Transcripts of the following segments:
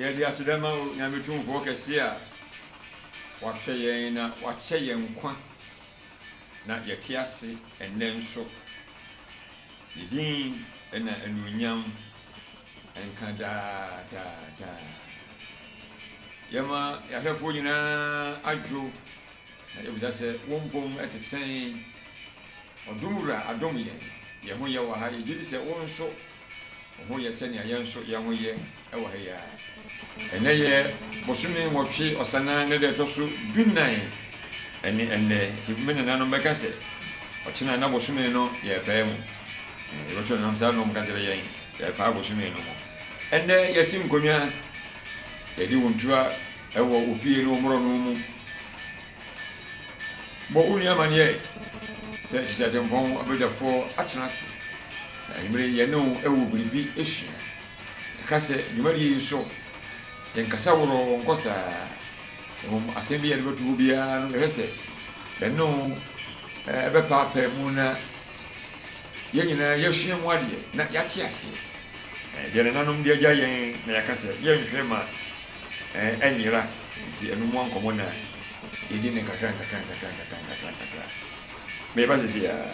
yɛde aseda ma wo nyame tumfoɔ kɛseɛ a wahwɛ yɛn na wakyɛ yɛn nkwa na yɛte ase ɛnnɛ nso. Ne din na anuonyam nka daa daa daa. Yɛma yɛn ahwɛfoɔ nyinaa adwo, na yɛbisa sɛ, Wo mpom ɛte sɛn? Ɔdom Wura adom yɛn, yɛn ho yɛ wɔ ha. Yɛgye di sɛ wo nso wo ho yɛ sɛnea yɛn nso yɛn ho yɛ. wɔ ha yi ara. Ɛnnɛ yɛ bosome nwɔtwe Ɔsanaa ne da ɛtɔ so dunan ɛne ɛnnɛ nti me nananom bɛka sɛ ɔkyena na bosome no yɛrepaa mu na yɛbɛto nanam saa nom ka kyerɛ yɛn yɛrepaa bosome no mu ɛnnɛ yɛsi nkonnwa yɛde wo ntua ɛwɔ wo fie ne wo mmorɔ no mu bɔ wo nua amaneɛ sɛ kyekyɛ atempɔn abadwafoɔ atena ase na mmerɛ yɛne wo ɛwɔ biribi esua Ɛka sɛ, Dwumadie yi so yɛnkasa worɔɔ nkɔ saa, mmom asɛm bi a yɛde bɛto hɔ biara no yɛhwɛ sɛ yɛne wo bɛpaapae mu na yɛn nyinaa yɛasua mu adeɛ na yɛate aseɛ. Deɛ nananom de agya yɛn na yɛaka sɛ yɛnhwɛ ma anyera nti ɛno mua nkɔmmɔ na yɛdi ne nkakra nkakra nkakra nkakra nkakra nkakra. Mereba seesei ara.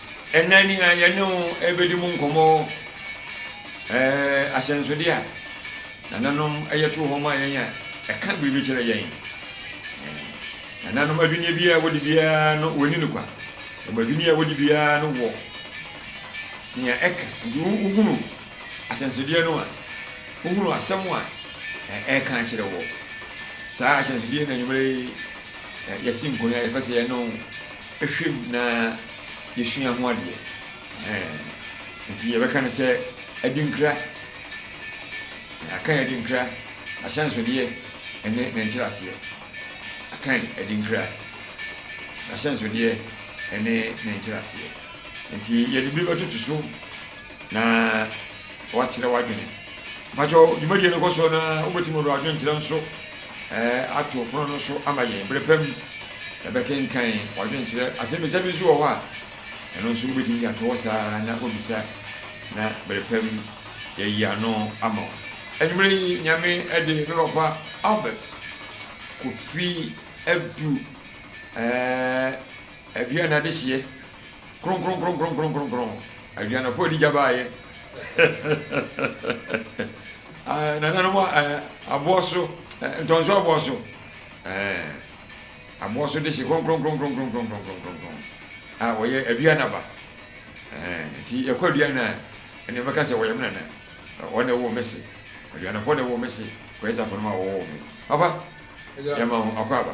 Ɛnnɛ nea yɛne wo rebɛdi mu nkɔmmɔ yɛ ahyɛnsodeɛ a nananom yɛ too hɔ ma yɛn a ɛka biribi kyerɛ yɛn. Nananom adwinneɛ biara a wɔdi biara no wɔnni no kwa. Wɔn adwinneɛ a wɔdi biara no wɔ nea ɛka. Nti wohunu ahyɛnsodeɛ no a, wohunu asɛm a ɛreka akyerɛ wɔ. Saa ahyɛnsodeɛ na anwummerɛ yi yɛsi nkɔn a yɛpɛ sɛ yɛne wo Hwɛ mu na yɛsua ho adeɛ. Ɛhɛn. Nti yɛbɛka no sɛ adinkra. Akan adinkra, n'ahyɛnsodeɛ ne ne nkyerɛaseɛ. Akan adinkra, n'ahyɛnsodeɛ ne ne nkyerɛaseɛ. Nti yɛde bi bɛtoto so na wakyerɛ w'adwene. Mpakyɛw, dwumadie no kɔ so na wobɛtumi de w'adwenkyerɛ nso ato pono no so ama yɛn. Bere pa bi, yɛbɛkenkan ɔdwenkyerɛ asɛmmisa bi nso wɔ hɔ a, ɛno nso wobetumi de ato hɔ saa ara na wabisa, na bere pa bi yɛayi ano ama wo. Anwummere yi, Nyame de, me papa Albert Kofi adu aduan adehyeɛ kronkronkronkronkronkron, aduan a ɔfɔɔ di gya baeɛ. Ɛɛ nananom ɛɛ abɔɔso ɛɛ ntɔnso abɔɔso ɛɛ abɔɔso de hye kronkronkronkronkronkronkronkronkron a wɔyɛ aduan aba ɛɛ nti yɛkɔ aduan a ɛna ɛbɛka sɛ wɔyɛ me nana wɔn na ɛwɔ me se aduanapɔ na ɛwɔ me se kɔyɛ sɛ akɔnoma a wɔwɔ me papa yɛma ho akɔ aba.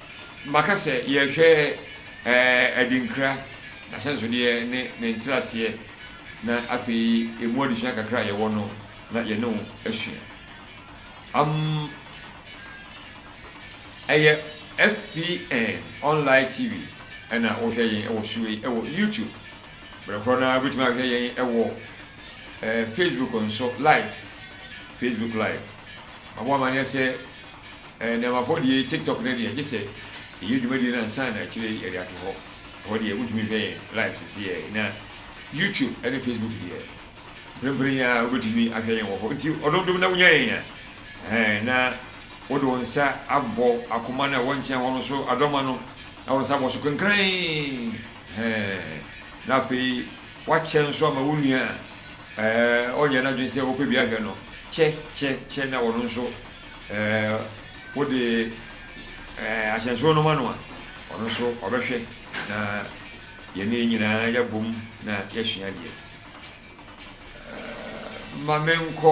Maka sɛ yɛrehwɛ adinkra, n'ahyɛnsodeɛ ne ne nkyerɛaseɛ, na afei ɛmu adesua kakra a yɛwɔ no na yɛne wo asua. Am Ɛyɛ FPN Online TV ɛna wohwɛ yɛn ɛwɔ so yi ɛwɔ YouTube. Berɛ korɔ no ara wobɛtumi ahwɛ yɛn ɛwɔ eh, Facebook nso live, Facebook live. Maboa ma nyɛ sɛ Ɛnɛ amafo deɛ yi tiktok no deɛ gyesɛ yɛyɛ dwumadie no ansa na akyire yɛde ato hɔ. Ɛhɔ deɛ wotumi hwɛ yɛn live sesiɛ na YouTube ɛne Facebook deɛ mprempren yi ara wobɛtumi ahwɛ yɛn wɔ hɔ nti ɔdodom na wonya yɛn a ɛhɛn na wode wo nsa abɔ akoma no a ɛwɔ nkyɛn hɔ no so adɔma no na wo nsa abɔ so kenkran ɛhɛn na afei wakyɛ nso ama wo nua a ɛɛ ɔnyɛ n'adwene sɛ wopɛ bi ahwɛ no kyɛ kyɛ kyɛ na wɔn nso Ɛɛ, wode ɛɛ ahyɛnsoɔ no ma no a, ɔno nso ɔbɛhwɛ na yɛne yɛn nyinaa yɛabom na yɛasua adeɛ. Ɛɛ, ma menkɔ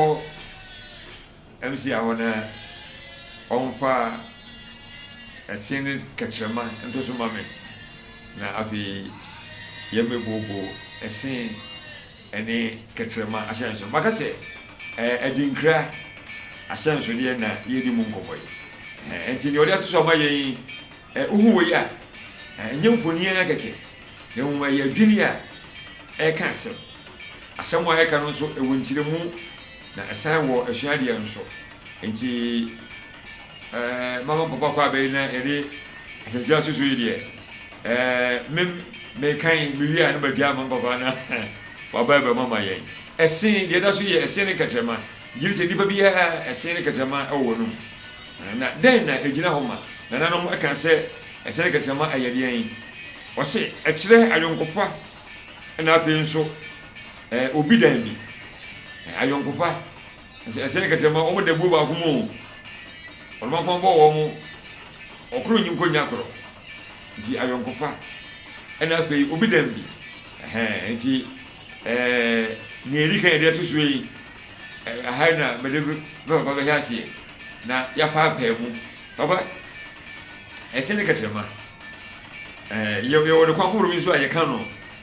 MCA hɔ na ɔmfa ɛse ne kɛtrɛma nto so ma me, na afei yɛmmɛbooboo ɛse. ne kɛtrɛma ahyɛnso. Maka sɛ ɛɛ adinkra ahyɛnsodeɛ na yɛredi mu nkɔmmɔ yi. Ɛhɛn, ɛnti deɛ ɔde ato so ama yɛn yi, ɛ, wohu wei a, ɛ, ɛnyɛ mfonin ara kɛkɛ, na mmom ɛyɛ adwini a ɛreka asɛm. Asɛm a ɛreka no nso, ɛwɔ nkyerɛmu, na ɛsan wɔ asuadeɛ nso. Nti eh, mama mpɔpɔ akɔ abɛyi na yɛde asɛnkyerɛ asusu yi deɛ eh, me mekan mewie a na magyaa ma mpɔpɔ na waba abɛm ama yɛn. Ɛsen, deɛ ɛda so yɛ ɛsen ne kɛtrɛma, gye sɛ nnipa biara ɛsen ne kɛtrɛma wɔ wɔn anom. Na dɛn na ɛgyina hɔ ma? Nananom ka sɛ ɛsen ne kɛtrɛma ɛyɛ deɛn? Wɔse ɛkyerɛ ayɔnkofa na afei nso eh, obi dan bi. Eh, ayɔnkofa. Ɛsɛ ɛsɛ yɛ kɛtɛ ma ɔmo da buo baako mu o. Ɔdoma kɔn bɔ wɔn mo. Ɔkoro nyi nkɔ nya koro. Nti ayɔnkofa ɛna afei obi dan bi. Ɛhɛɛ nti ɛɛ nea edi kan yɛde ato soɔ yi ɛɛ aha yi na mede me papa bɛhyɛ aseɛ na yɛapaapaa mu. Papa ɛsɛ ne kɛtɛ ma ɛɛ yɛ yɛwɔ ne kwan horow bi nso a yɛka no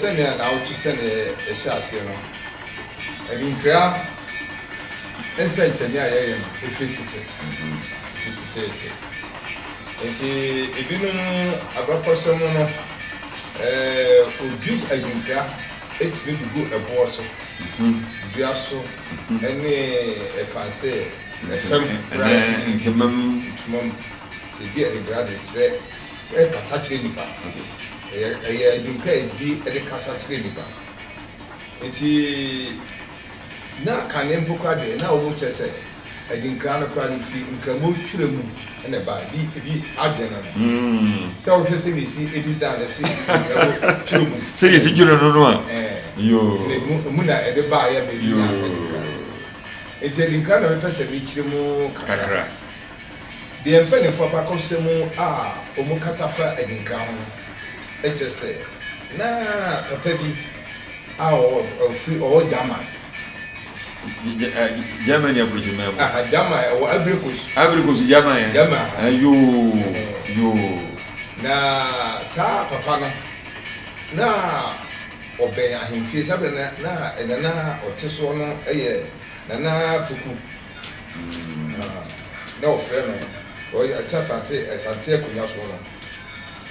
Sɛnea naawɔtwe sɛnea ɛhyɛ aseɛ no, adinkra nsɛnkyerɛnne a yɛyɛ no firi tete, firi teteete. Nti ebinom abakɔsɛm mu no, wɔdwi adinkra tumi de gu ɛboɔ so, dua so, ne ɛfansɛ fam koraa tumi ntoma mu. Nti ebi adinkra de kyerɛ. Kasa kyerɛ nnipa. Ɛyɛ ɛyɛ adwinka a ɛdi de kasa kyerɛ nnipa. Nti na kane mpo koraa deɛ na wɔn kyerɛ sɛ adinkra no koraa no firi nkramo twerɛ mu na ɛbaeɛ. Ebi ebi adwene no no. Sɛ wohwɛ sɛdeɛ ɛsi ɛdesign no ɛsi firi nkramo twerɛ mu. Sɛdeɛ ɛsi twerɛ no no a. Ɛɛ. Yoo. Na emu emu na ɛde baeɛ ma ɛde nyaa saa adinkra no. Yoo. Nti adinkra na mepɛ sɛ mekyerɛ mu kakra. Kakra. Deɛ mpanimfoɔ abakɔsɛm mu a wɔkasa fa adinkra ho no kyerɛ sɛ na papa bi a ɔfiri ɔwɔ German. Germany aburokyiman mu. Aha German ɛwɔ Ivory Coast. Ivory Coast German yɛ. German aha. Eh, yoo yoo. Na saa papa no na ɔbɛn ahemfie sábẹ na na nana ɔte soɔ no yɛ nana poku. Na wɔfrɛ no ɔte asante asante akonnwa soɔ no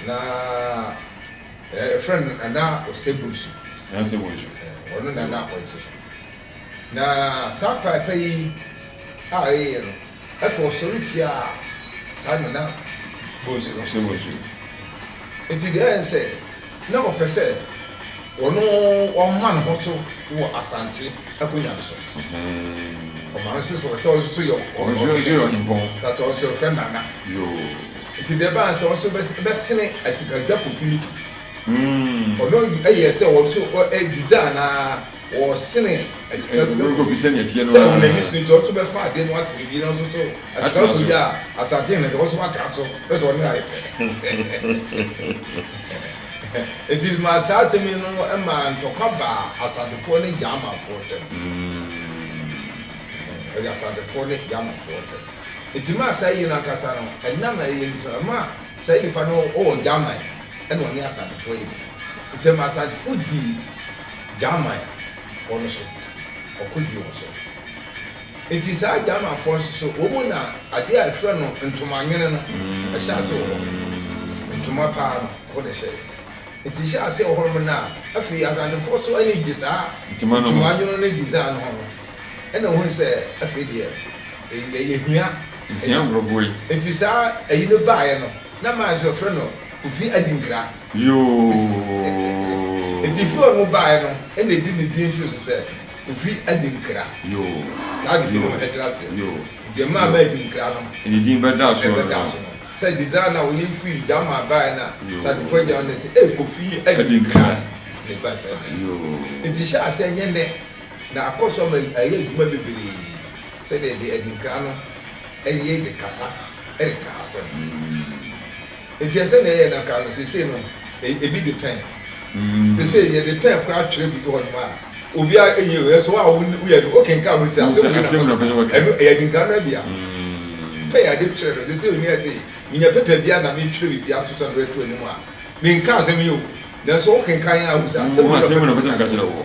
na ɛfrɛ no Nana Osei-Bonsu. Nana Osei-Bonsu. Ɔno na na ɔte so. Na saa paapa yi a ɛyɛ no, afei ɔsɔre tiaa saa Nana Bonsu no. Osei-Bonsu. Nti deɛ ɛyɛ sɛ. na ɔpɛ sɛ ɔno ɔma ne ho to wɔ Asante akonwa no so. Ɔma no sɛ sɛ ɔno so yɛ ɔhempɔn, sɛ ɔno so yɛfrɛ Nana. Nti deɛ ɛbaa no sɛ ɔno so bɛsene Asikadwa Kofi no bi. Ɔno yɛɛ sɛ ɔno so design ara. ɔsene asika bi bɛkɔ so sɛdeɛ ɛteɛ no sɛ wɔn ani so nti ɔso bɛfa adeɛ no asene bi na ɔso so asika kɔ yi a asate na deɛ ɔso watra so bɛ sɛ ɔne ayɛ pɛ nti ma saa asɛm yi no ma ntɔkwa baa asatefoɔ ne gyamafoɔ ntɛm ɛde asatefoɔ ne gyamafoɔ ntɛm nti ma saa yi no ankasa no ɛnam ɛyɛ nti ma saa nipa no ɔwɔ gyaman ɛna ɔne asatefoɔ yɛ nti ma asatefoɔ dii Germanfoɔ no so, ɔkɔdii wɔn so. Enti saa Germanfoɔ no nso so, wɔn mu na adeɛ a ɛfrɛ no ntomanwene no hyɛɛ aseɛ wɔ hɔ. Ntoma pa ara no, ɛhɔ na ɛhyɛɛ. Enti ɛhyɛɛ aseɛ wɔ hɔnom no a, afei Asantefoɔ nso ani gyee saa Ntoma no ho. ntomanwene ne design no ho no, ɛnna wɔhui sɛ afei deɛ, yei deɛ yɛhia Yɛhia nkurɔfoɔ yi. Enti saa ayi no baeɛ no, na mmaa nso wɔfrɛ no Kofi Adinkra. Yoo. Nti firi a ɔmo baeɛ no na edi ne din nso sɛ Kofi Adinkra. Yoo. Saa de binom ɛkyerɛ aseɛ. Yoo. Nti ɛma ama Adinkra no. Ne din bɛdaa so no. Ɛbɛdaa so no. Sɛ design no a ɔyɛ no firi German baeɛ no a Sadefo agya no na ɛse ee Kofi Adinkra na ɛbaa saa din no. Yoo. Nti hyɛ aseɛ nyɛ nnɛ na akɔ so ama ayɛ adwuma bebree sɛdeɛ de Adinkra no ɛyɛ de kasa ɛde ka asɛm. Nti ɛnsɛ nea yɛyɛ no nka no seesei no ebi de pɛn seesei yɛde pɛn koraa twerɛ biribi hɔ nom a obiara ɛnyɛ o ɛso wo a woyɛ no wokenkan ho sɛ asɛm wei na mɛka ɛno ɛyɛ adinkra no abia pɛn a yɛde twerɛ no seesei onia sɛ menya pɛpɛ bia na metwerɛ biribi ato sɛ mede to anim a menka asɛm yi o nanso wokenkan a wohu sɛ asɛm wei na mɛka kyerɛ wo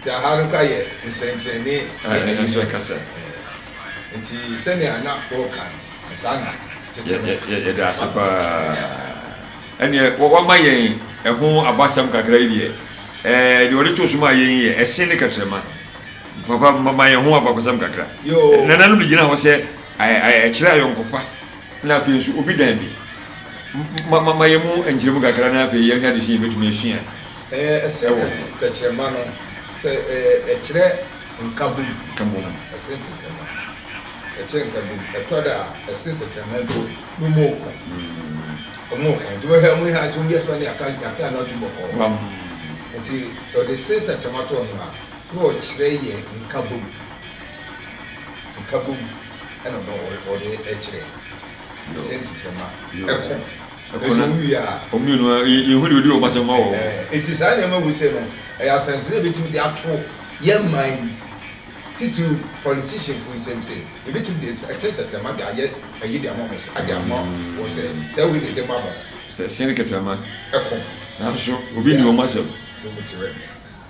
Nti aha no ka yɛ nsɛnkyerɛnne ne ayɛyi mu kasa. Nti sɛnea na woka no, saa na tete no te. Yɛda ase paa. Ɛnneɛ wɔama yɛn ɛho abasɛm kakra yi deɛ, ɛɛ deɛ wɔde to so maa yɛn yi yɛ ɛse ne kɛtrɛma. Papa ma ma yɛn ho abakɔsɛm kakra. Yoo. Nananom de gyina hɔ sɛ ɛ ɛ ɛkyerɛ ayɔnkofa na afei nso obi dan bi. Ma ma ma yɛn mu nkyerɛmu kakra na afei yɛnhwɛ adesua a yɛbɛtumi asua. Ɛyɛ ɛse tɛkyerɛma no sɛ ɛkyerɛ nkabom. Nkabom. Ɛse tɛkyerɛma. Ɛkyerɛ nkabom. Ɛtɔ da a ɛse tɛkyerɛma mpo no mu ɔko. Ɔmo ɔko. Nti wohwɛ ɔmo ha nso wiase ne aka aka ano atu bɔkɔɔ. Wam. Nti ɔde se tɛkyerɛma too ho a na ɔkyerɛ yɛ nkabom. Nkabom ɛna ɔde ɛkyerɛ. Se tɛkyerɛma. Ɛko. Ɛkɔ no, wɔn mmienu ara, yɛnhu deɛ ɔdi wɔn asɛm ma wɔn. Enti saa nneɛma wuse no, ɛyɛ asɛnsono a ɛbɛtumi de ato yɛn man yi, titiriw politicianfoɔ nsam sɛ yɛbɛtumi de nsa, ɛte tɛtɛma de ayɛ ayi de ama wɔn sɛ, de ama wɔn sɛ, sɛ wei na ɛde ma mo. Sɛ ɛsɛn kɛtɛma. Ɛkɔ. Nanso obi nni wɔn asɛm. Wɔn mu te wɛ.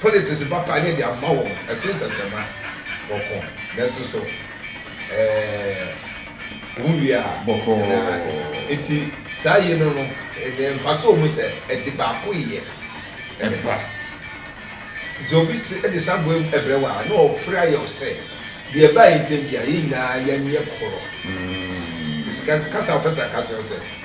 Politics papa ne de ama wɔn ɛsen tɛtɛma bɔkɔɔ nanso so ɛɛ wo wie a bɔkɔɔ na eti saa yi no no ɛnɛ nfa so mu sɛ ɛde baako yɛ ɛba nti obi ti ɛde saa bɔ ɛbrɛ wa na ɔpere ayɛ ɔsɛ deɛ ɛba yɛ ntɛm bia yɛ nyinaa yɛ nyɛ korɔ mm. sika kasa ɔpɛ sɛ aka kyerɛ sɛ.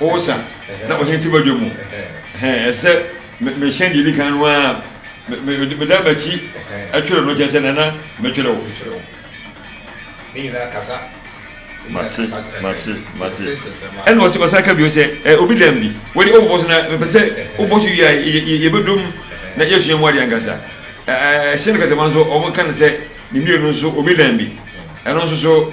Hosa na ɔhyɛ ne ti badwa mu. Ɛsɛ sɛ mehyɛ deɛ ɛdi kan no ara, meda m'akyi twere no, kyerɛ sɛ nana metwere wo. Mate, mate, mate. Ɛna ɔsi ɔsan ka bio sɛ, ɛ obi dam bi, wɔde ɔbɔ so na mepɛ sɛ ɔbɔ so wie a yɛbɛdom na yɛsua mu adeɛ ankasa. Ɛhyɛ no kɛtɛma nso wɔn ka no sɛ ne mmienu nso obi dam bi, ɛno nso so.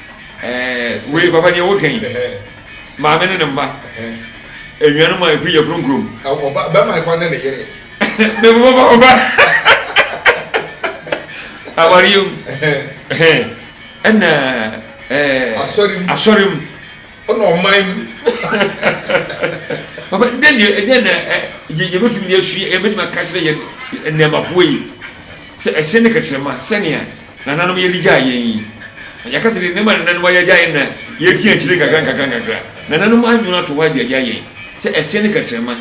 Ɛɛ wei papa deɛ woka yi maame ne ne mma anuanom a ɛfiri yɛ kurom. bɛma ɛkɔ ne ne yere mebobɔbɔbɔba awareɛ mu ɛna asɔre mu ɔna ɔman mu papa dɛn deɛ ɛdɛn na yɛbɛtumi de asua yɛbɛtumi aka kyerɛ yɛ nneɛmafoɔ yi sɛ ɛsɛ ne kɛkyerɛma sɛnea Nananom yɛ de gyae yɛn yi. Agya kasa de nneɛma a nananom ayɛ agyae yɛn na yɛretia akyire nkakra nkakra nkakra. Nananom anwene ato hɔ de agyae yɛn sɛ ɛseɛ ne kɛtrɛma.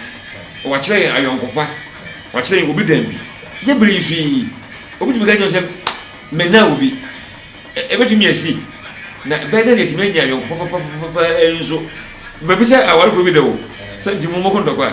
Wɔakyerɛ yɛn ayɔnkofa. Wɔakyerɛ yɛn obi dan bi. Yɛ bere yi so yi, obi tumi ka kyerɛ wo sɛ, Menna obi. Ɛ, ɛbɛtumi asi. Na ɛbɛyɛ dɛ na yɛatumi anya ayɔnkofa papapapa nso. Mabisa awarefo bi da o, sɛ, Nti mommɔko ntɔkwa?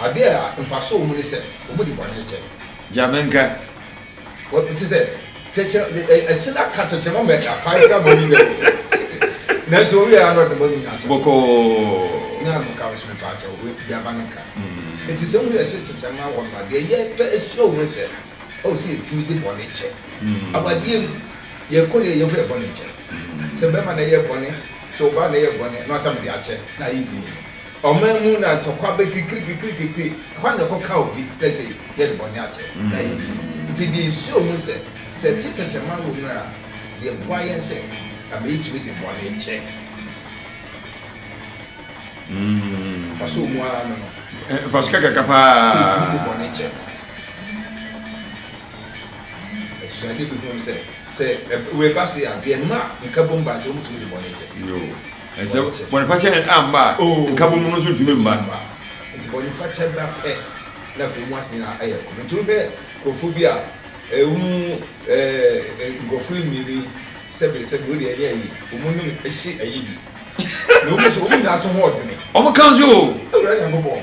Ade a mfaso wɔ mu ne sɛ wɔde bɔne kyɛ. Gya me nka. Wɔte te sɛ tɛkyerɛma, ɛse na ka tɛkyerɛma ma ɛka kwan na bɔne nyinaa mu kɔ. Nanso ɔwiee ara na ɔde bɔne nyinaa to bɔkɔɔ. Nya no ka nso mepaakyɛw wo gya ba no nka. Enti sɛ wohu yɛ te tɛkyerɛma wɔ no a, deɛ yɛ pɛ sua wɔ mu ne sɛ, ɔwɔ sɛ yɛtumi de bɔne kyɛ. Awadeɛ mu, yɛ kɔ yɛ yɛmfa yɛ bɔne nkyɛ. Sɛ bɛma na ɛyɛ bɔne, sɛ ɔbaa na ɛyɛ bɔne, na ɔsɛ mede akyɛ, na ayɛ din. Ɔman mu na ntɔkwa bɛ kikirikikirikikiri, ɛhɔ na ɛkɔka obi na kyɛ yɛde bɔne akyɛ na ayɛ yie. Nti deɛ nsuo ho sɛ, sɛ ɛte tɛkyɛma wɔ mu a, deɛ boa yɛn sɛ na mɛ yɛtumi de bɔne kyɛ. Mfaso wɔ mu ara no no. Mfaso kakraka paa. Sɛ yɛtumi de bɔne kyɛ. Asuade bi ho sɛ, sɛ wei ba se a, deɛ mma nkabom ba se wɔtumi de bɔne kyɛ. Na sɛ bɔnefakyɛ no amma a, nkabom no nso ntumi mma. Enti bɔnefakyɛ ba pɛ na afei mu ase nyinaa ayɛ kɔm. Enti wohwɛ nkurɔfoɔ bi a, wɔn mu nkurɔfoɔ mmienu yi, sɛbe sɛbe, wodeɛ ɛnyɛ ayi, wɔn anim hye ayi bi. Na wɔn nso, wɔn nyinaa to ho ɔdwene. Wɔka nso o. Awurade Nyankopɔn.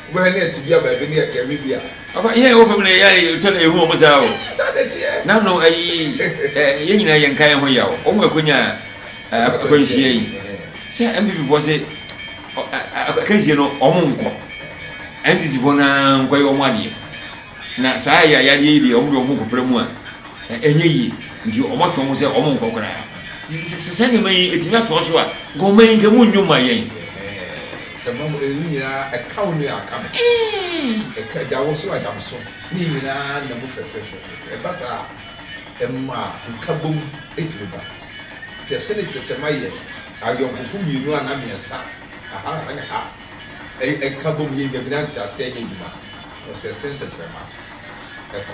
Bɛhwɛ ne ɛte bia baabi ne yɛ kɛɛ me bia. Papa yɛn a yɛwɔ fam no ɛyɛ a yɛtwa na yɛhu wɔn saa o. Saa na ɛteɛ. Nano ayi yɛn nyinaa yɛn nka yɛn ho yaw wɔn a ɛkɔnya akwanhyia yi sɛ NPP foɔ se akansie no wɔn nkɔ NDC foɔ no ara nkɔyɛ wɔn adeɛ na saa yɛ ayadeɛ yi deɛ wɔn deɛ wɔn ho kɔpra mu a. ɛ, ɛnyɛ yie, nti wɔato wɔn sɛ wɔnkɔ koraa. Nti sɛ, sɛ saa nneɛma yi ɛtumi atoa so a, nka ɔman yi nka monnwo mma yɛn. Ɛɛ, sɛ mma mo, ɛyi nyinaa, ɛka wo nua a, ɛka me. Ɛka, ɛda wo so a, ɛda me so. Ne nyinaa nna mu fɛfɛɛfɛɛfɛɛfɛ. Ɛba saa a, ɛma nkabom tumi ba. Nti ɛsɛ ne twɛkyɛma yɛ ayɔnkofo mmienu anaa mmiɛnsa, aha ne ha, ɛ, ɛka bom yɛ nnwamina nteaseɛ nyɛ adwuma. Ɔsɛ ɛsɛ ne tɛkyerɛma kɔ.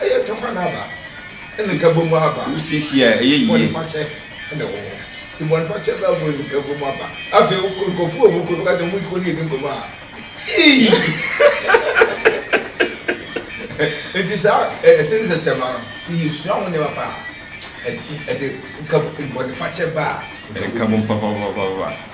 Ɛyɛ tam a n'aba ne nkabom aba. Wosiesie a, ɛyɛ yie. Bɔnefakyɛ na ɛwɔ hɔ. Nti bɔnefakyɛ ba mu ne nkabom aba. Afei wokɔ nkurɔfoɔ a wɔkɔ no woka sɛ wɔn kɔdi yɛn nkɔmmɔ a, ii! Nti saa ɛsɛ ne tɛkyɛma no, sɛ yɛsua ho nneɛma paa a, ɛde bɔnefakyɛ ba a, nkabom ba.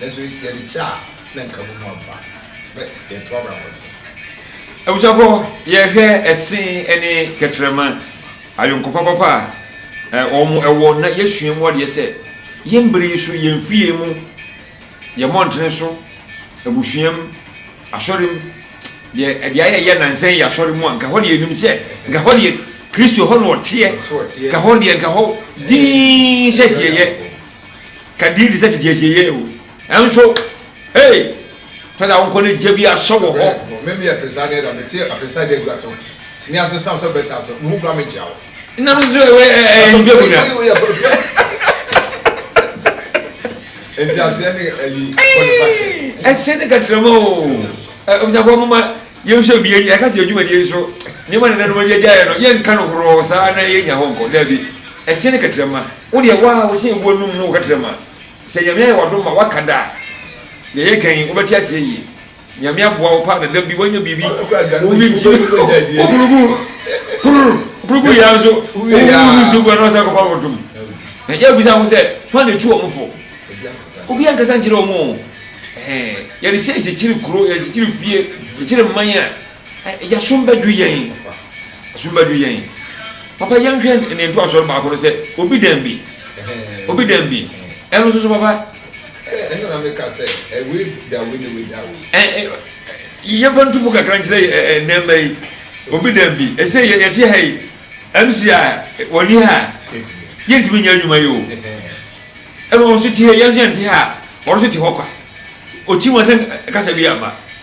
nanso yɛde kyɛ a na nka mu mu ampa na yɛto abrabɔ so. Abusuafo, yɛhwɛ ɛse ne kɛtrɛma, ayɔnkofa papa a wɔwɔ na yɛsua mu adeɛ sɛ yɛn bere yi so, yɛn fie mu, yɛn mmɔntene so, abusua mu, asɔre mu, deɛ deɛ ayɛ yɛ nansa yi yɛ asɔre mu a, nka hɔ deɛ yɛnim sɛ, nka hɔ deɛ Kristo hɔ na ɔteɛ, nka hɔ deɛ nka hɔ dinn sɛ yɛyɛ. Ka din te sɛ tete asieeɛ o. Nanso, hey, pɛ sɛ wonkɔ ne gya bi ahyɛ wɔ hɔ. Hwɛ, me me apesa ne da, me te apesa da gua to. Ne ase sam sɛ bɛta so, me ho kura me gya o. Na no so ɛwɛ ɛɛ ndwa mu na. Nti aseɛ ne ayi bɔne fakyɛ. Ɛsɛ ne katrama o. Abusuafoɔ moma yɛn nso ebie yɛ ɛka sɛ adwumadie nso nneɛma nananom agya gyaeɛ no yɛn nka no horɔɔ saa na yɛn nya hɔ nkɔ daabi ɛsɛ ne katrama. Wo deɛ wo a wose wo anum no wo kɛtrɛ ma sɛ Nyame ayɛ wadom ma waka da a deɛ yɛ kan yi wo bɛte aseɛ yie Nyame aboa wo paa na da bi wanya biribi wo wi nti wo bunu gu kurr buru gu yɛ ara nso wo wi nsuo gu a na wasan akɔ fa wotom na yɛ bisa ho sɛ hwan na ɛtu wɔn fo obi ankasa nkyerɛ wɔn o ɛɛ yɛde sɛ kyekyere kuro yɛde kyekyere fie kyekyere mman a. Ɛ yɛsom bɛdwo yɛn Ɛsom bɛdwo yɛn Papa yɛnhwɛ ne ntoasoɔ no baako no sɛ obi dan bi Obi dan bi Ɛno nso so papa Sɛ ɛno na meka sɛ ɛ wei da wei na wei da wei Ɛ ɛ ɛ yɛmfa nto mu kakra nkyerɛ ɛ ɛ nneɛma yi Obi dan bi Ɛsɛ yɛ yɛte ha yi MC a wɔnni ha yɛntumi nyɛ adwuma yi o Ɛna wɔn nso te ha yi yɛn nso yɛnte ha a wɔn nso te hɔ kwa Ɔkyi wɔn sɛ kasa bi amma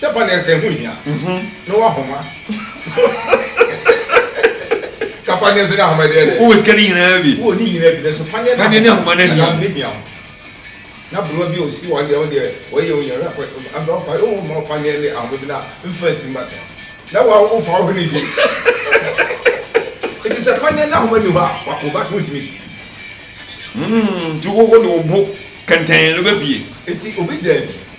Sɛ ba nea nka ɛho hia na wahoma. Ka paneɛ nso ne ahoma deɛ deɛ. Wowɔ sika ne nyinaa bi. Wowɔ ne nyinaa bi nanso paneɛ ne ahoma ne hia. Ne hia ho. Na aberewa bi a ɔsi wɔn deɛ ɔdeɛ wɔyɛ wɔn nyinaa akɔ aberewa pa ɛwɔ ma paneɛ ne ahoma bi na mfa nti mba tena. Na wa wofa wo ho ne yie. Eti sɛ paneɛ ne ahoma ni hɔ a wa wo ba to ntumi si. Hmm, nti wo wo de wo bo kɛntɛn no bɛbie. Eti obi daabi.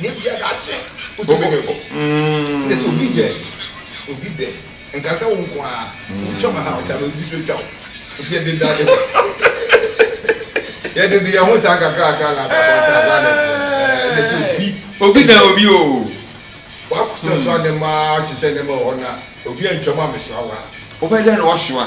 Nyɛ bia daakye wotumi de kɔ ne sɛ obi dɛ obi dɛ nka sɛ wo nko aa wotwa ma ha ɔkya no obi so bɛtwa wo nti yɛde da de kɔ yɛde de yɛn ho saa kakrakra na akɔ akɔ saa saa na ɛteɛ ɛɛ ne sɛ obi obi dɛ obi o wakɔtɔ so a ne ma ahyehyɛ ne ma wɔ hɔ na obi antwa mu amesoa wa. Wobɛdɛ na wasoa.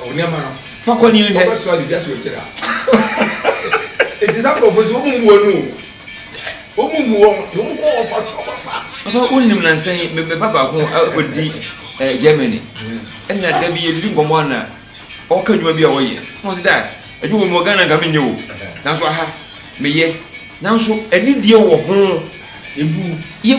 Wo nneɛma no. Fa kɔ ni nhwɛ. Sɛ wobɛsoa de dwa so akyire a. Eti saa nkurɔfoɔ nso wɔn mu wɔn o. Wɔn mu wɔn na wɔn kɔ wɔn fa so papa. Papa wo nim na nsa yi me me papa ko ɔdi ɛɛ Germany. Ɛna da bi yɛdidi nkɔmɔ ana ɔka adwuma bi a ɔyɛ. Wɔn sɛ daa adwuma mu wɔ Ghana nka menyɛ o. Nanso aha meyɛ. Nanso anidie wɔ ho. Ebu. Yɛ.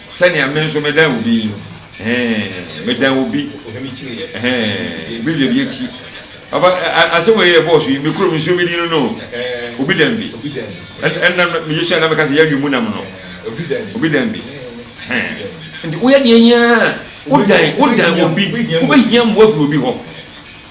Sɛnea me nso medan obi yi no, eh, medan obi, eh, obi dɛbi akyi. Aba, asɛm wɔ yɛ bɔɔso yi, me kurom nsuo bi di no no, obi dan bi. Ɛnna me Yosua na meka sɛ yɛn adwene mu nam no, obi dan bi. Nti woyɛ deɛ nyinaa, wodan, wodan obi, wobɛhia mmoa firi obi hɔ.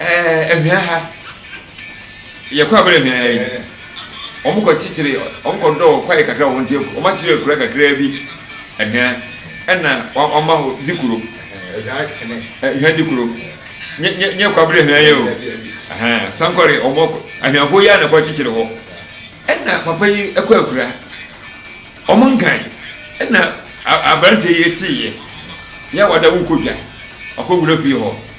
Ɛɛ ahwia ha yɛ kɔ abɛrɛ ahwia ha yi wɔn kɔ kyekyere wɔn kɔ dɔɔ kwae kakra wɔn ti wɔn akyerɛ akura kakra bi ahwia ɛna wɔn ama hɔ di kuro ahwia di kuro nye nye nye kɔ abɛrɛ ahwia yɛ o ɛhɛn sankɔre wɔn kɔ ahwiafoɔ yi a na kɔ kyekyere hɔ ɛna papa yi ɛkɔ akura wɔn nkan ɛna aberanteɛ yi ti yɛ yɛ wada wokɔ dwa ɔkɔ wura fie hɔ.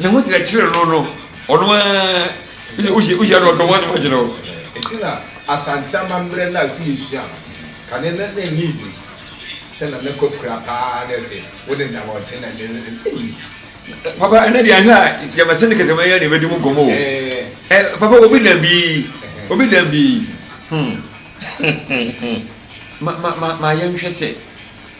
ne ho kyerɛkyerɛ no no ɔno ara wohyia no ɔdɔm ano agyina hɔ. Ɛti na Asante amammerɛ no a so yɛsua no kane no na ɛnyɛ dzi sɛ na ne kɔkura paa na ɛsɛ wo ne nam ɔte na ne ɛyi. Papa ɛnɛ deɛ ahwɛ a yɛmɛsɛ ne kɛtɛmɛ yɛ ne bɛdi mu gɔmɔ o. Ɛ papa obi nam bi obi nam bi hmm. ma ma ma ma yɛnhwɛ sɛ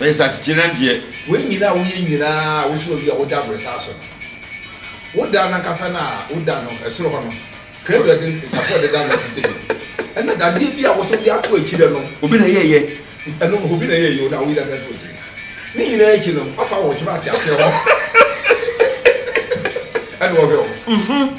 Ɔyɛ nsakyekyeran deɛ. Wei nyina a woyɛ nyina a wosi hɔ yi a woda abrɛsa so no, woda no ankasa no a woda no soro hɔ no, Kredo a ɛde nsafoa de da no te sɛ dɛn? Ɛna dadeɛ bi a wosɛ wode ato akyire no. Obi na ɛyɛɛyɛ. Ɛno nso obi na ɛyɛɛyɛ o na woyi dadeɛ no to akyire. Ne nyinaa akyi no, wafa wo kyem ateaseɛ hɔ ɛna ɔhwɛ wo.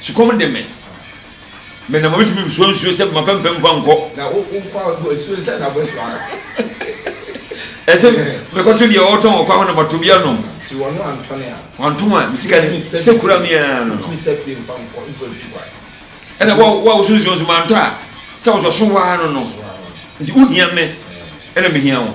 Sukɔm de me. Me na mabɛtumi nsuo nsuo sɛ ma pɛmpɛ mfa nkɔ. Na wo wo kwa bɔ nsuo sɛ na bɛsɔ ara. Ɛsɛ mekɔto deɛ ɔtɔn wɔ kwa hɔ na mato bi anom. Ti wɔn antɔne a. Wɔn antom a mesika ne sɛ kura mi ara no. Ntumi sɛ fie mfa nkɔ mfa ntu kwa. Ɛna wa wa wosu nsuo nso mantɔ a sɛ wɔsɔ so waa no no. Nti wohia me ɛna mehia wo.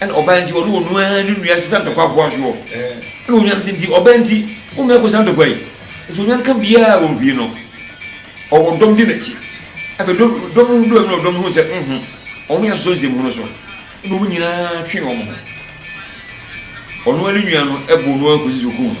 ɛna ɔbaa nti ɔne ɔno ara ne nua sesa ntɔkwa akoa soɔ ɛna onwan se nti ɔbaa nti wo nua kɔsa ntɔkwa yi nso onwan ka biara wɔn pii no ɔwɔ dɔm di n'akyi ɛbɛ dɔm dɔm ho dɔm no dɔm ho sɛ nho wɔn yɛ asosɔ nsɛm ho no so ɛna wɔn nyinaa twe wɔn ho ɔno ara ne nua no ɛbɔ no ara kɔsi so kum no.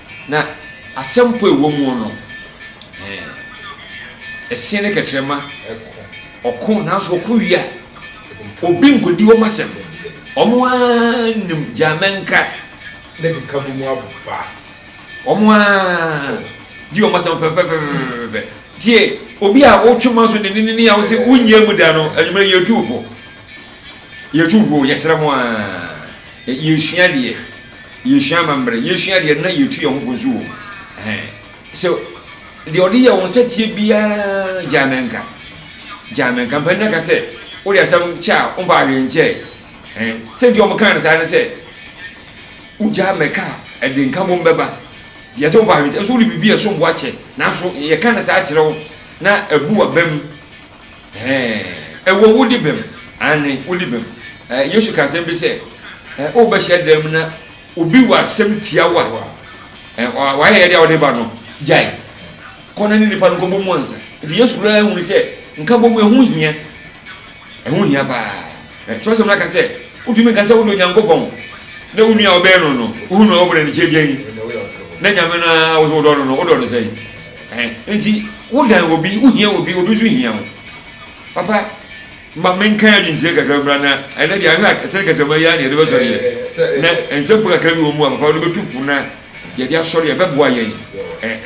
Na asɛm po ɛwɔ muo no ɛɛ. Ɛseɛ ne kɛtrɛma ɔko nanso ɔko wie a obi nkɔdi wɔn asɛm wɔn ara nim gyaa mɛnka ne beka bɔ mu aba wɔn ara di wɔn asɛm pɛpɛpɛpɛpɛpɛ tie obi a wotwe ma so ne ne ne a wosɛ wonyɛ mu da no anwummerɛ yɛtu po yɛtu po yɛsrɛ mo a yɛsua deɛ Yesua amammerɛ. Yesua deɛ na yɛtu yɛn ho fo nso wɔ mu. Ɛhɛn. Sɛ deɛ ɔde yɛ wɔn sɛteɛ biara gyaa me nka. Gyaa me nka. Mpanin aka sɛ, wode asɛm kyɛ a, womfa adwene nkyɛe. Ɛhɛn. Sɛ nti wɔn kaa no saa ne sɛ, wogyaa me ka a, ɛde nka bom bɛba. Deɛ sɛ womfa adwene nkyɛ. Nso wode biribi a ɛsom bo akyɛ. Nanso yɛka no saa kyerɛ wo na abu w'abam. Ɛwɔ wodi bem, aane, wodi bem. Yesu ka asɛm bi sɛ, wobɛ hyɛdan mu na obi wɔ asɛm tia wo a, wayɛ yɛde a wode ba no, gyae. Kɔ na ne nipa no kɔbɔ mu ansa. Nti Yesu koraa hunu sɛ nka bɔ mu ɛho hia. Ɛho hia paa. Kyerɛsɛm no aka sɛ, wotumi nka sɛ wode Onyankopɔn na wo nua a ɔbɛn no no, wohunu a wobɔ no anikyɛ gyan na Nyame no a wodɔ no no, wodɔ no sɛn? Ɛhɛn, ntsi wo dan obi, wo hia obi, obi so hia wo. Papa, ma menkaa adwenkyerɛ kakra mbra na ɛnɛ deɛ ahwɛ a sɛ kɛtɛma yi ara na yɛde bɛsɔre yɛ na nsɛm pa kakra bi wɔ mu a papa wode bɛtu fo na yɛde asɔre a ɛbɛboa yɛn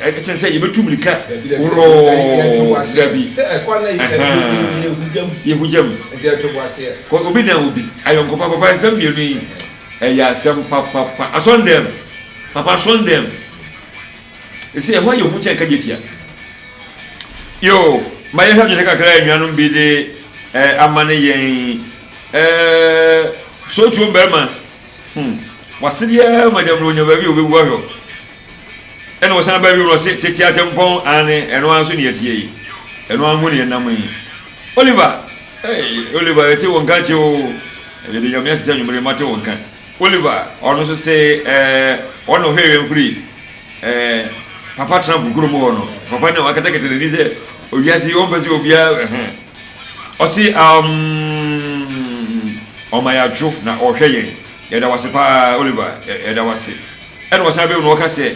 ɛkyɛn sɛ yɛbɛtu mirika worɔɔ dabi ɛhɛn yɛhugya mu kɔ obi dan obi ayɔnkofa papa nsɛm mmienu yi ɛyɛ asɛm papapa asɔndɛm papa asɔndɛm Ese ɛhɔ yɛ hu kyɛn kadwatia. Yoo, ma yɛnhwɛ adwenkyɛ kakra a anuanom bi de eh, amane yɛn. Eh, sootuo barima, hmm, wase biara ma gyammerɛ onya baabi a ɔbɛwu ahwɛ. Ɛna ɔsan ba bio na ɔse, tete atempɔn, aane, ɛno ara nso ne yɛteɛ yi. Ɛno ara mu ne yɛnam yi. Oliver, eh, Oliver, yɛte wo nka kye o. Yɛde Nyame ase sɛ anwummere yi mate wo nka. Oliver ɔno so se ɛɛ ɔna ɔhwɛ wɛn firi ɛɛ papa tena bu kurom hɔ no papa ne wakatakata n'ani sɛ owiase yi ɔmpɛ sɛ obia ɛhɛ ɔse um ɔma yɛ adwo na ɔhwɛ yɛn yɛda wase paa Oliver yɛda wase ɛna ɔsan bɛm na ɔka sɛ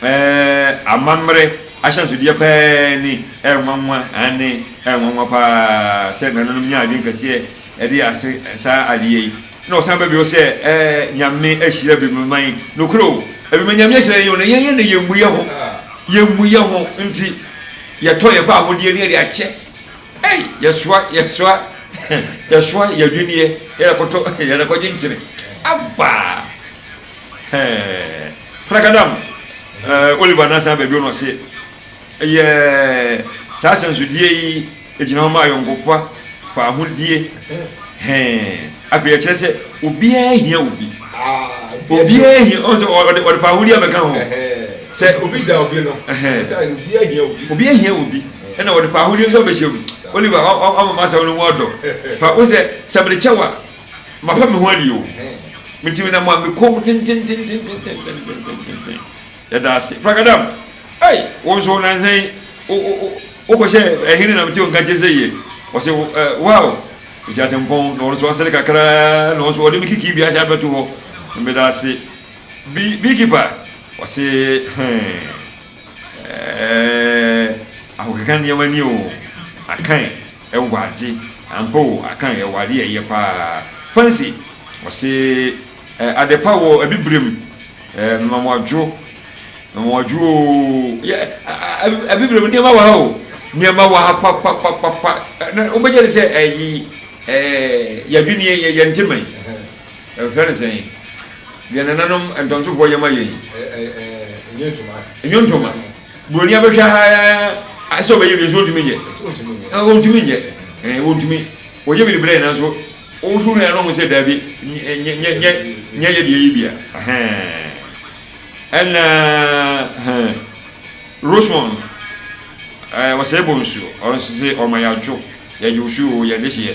ɛɛ amammerɛ ahyɛnsodeɛ paa ni ɛnwanwa aane ɛnwanwa paa sɛ nananom nya adwen kɛseɛ Ɛde ase saa adeyɛ yi na ɔsan ba bio sɛ ɛɛ Nyame ahyira binom man nokorɛ o ɛbima Nyame ahyira yɛn o na yɛn na yɛmmu yɛho yɛmmu yɛho nti yɛtɔ yɛn kɔ ahodeɛ ne yɛde akyɛ ei yɛsoa yɛsoa yɛsoa yɛdweneɛ yɛdɛkɔtɔ yɛdɛkɔgye nkyene aba hɛɛ prakadam ɛɛ Oliver na asan ba bio na ɔse Ɛyɛ saa sɛnsodie yi gyina hɔ ma ayɔnkofa, faahodie, hɛn. Afei ɛkyerɛ sɛ obiara hia obi. Obiara hia ɔn sɛ ɔde ɔde faahodie abɛka ho. Sɛ obi hia obi no, obiara hia obi. Obiara hia obi. Ɛna ɔde faahodie nso abɛhyɛ mu. Oliver ɔma m'asɛm no mu ɔdɔ. Fa wo sɛ sɛ mede kyɛ wo a, mafa me ho adi o. Metumi na mo a mekɔm tentententententententen. Yɛda ase. Fragadam, ei, wo nso nansa yi, wokɔhyɛ ɛhene na mete wo nka gye sɛ yie. Ɔse, wow, ɛsi atempɔn, na ɔno nso asere kakraa, na ɔnso ɔde me kikii bi ahyɛ abɛto hɔ. Meda ase. Beekeeper, ɔse, hɛn, ɛɛ, ahokeka nneɛma ni o, akan ɛwɔ ade, ampa o, akan ɛwɔ ade a ɛyɛ paa. Fancy, ɔse, ɛɛ, adepa wɔ abibire mu. Ɛɛ mmamoadwo, mmamoadwo oo, yɛ abibire mu nneɛma wɔ ha o, nneɛma wɔ ha papapapapa. Na wobɛgye de sɛ ɛyi ɛɛ yɛdwene yɛ yɛn ntoma yi, ɛhwɛ ne sɛn yɛn nananom ntɔnsofoɔ yɛ ma yɛn. Enyo ntoma, buroni abɛhwɛ ha ɛsɛ ɔbɛyɛ bi nso ɔntumi nyɛ, ɔntumi nyɛ, ɔntumi ɔyɛ bi de brɛ yɛn nanso. Wo hunu yɛ no ho sɛ dabi nyɛ nyɛ nyɛ nyɛ yɛ deɛ yi bia ɛna Rosemond wɔsɛ bɔ nsuo ɔnsese ɔma yɛ adwo yɛ de osuo yɛ de hyeɛ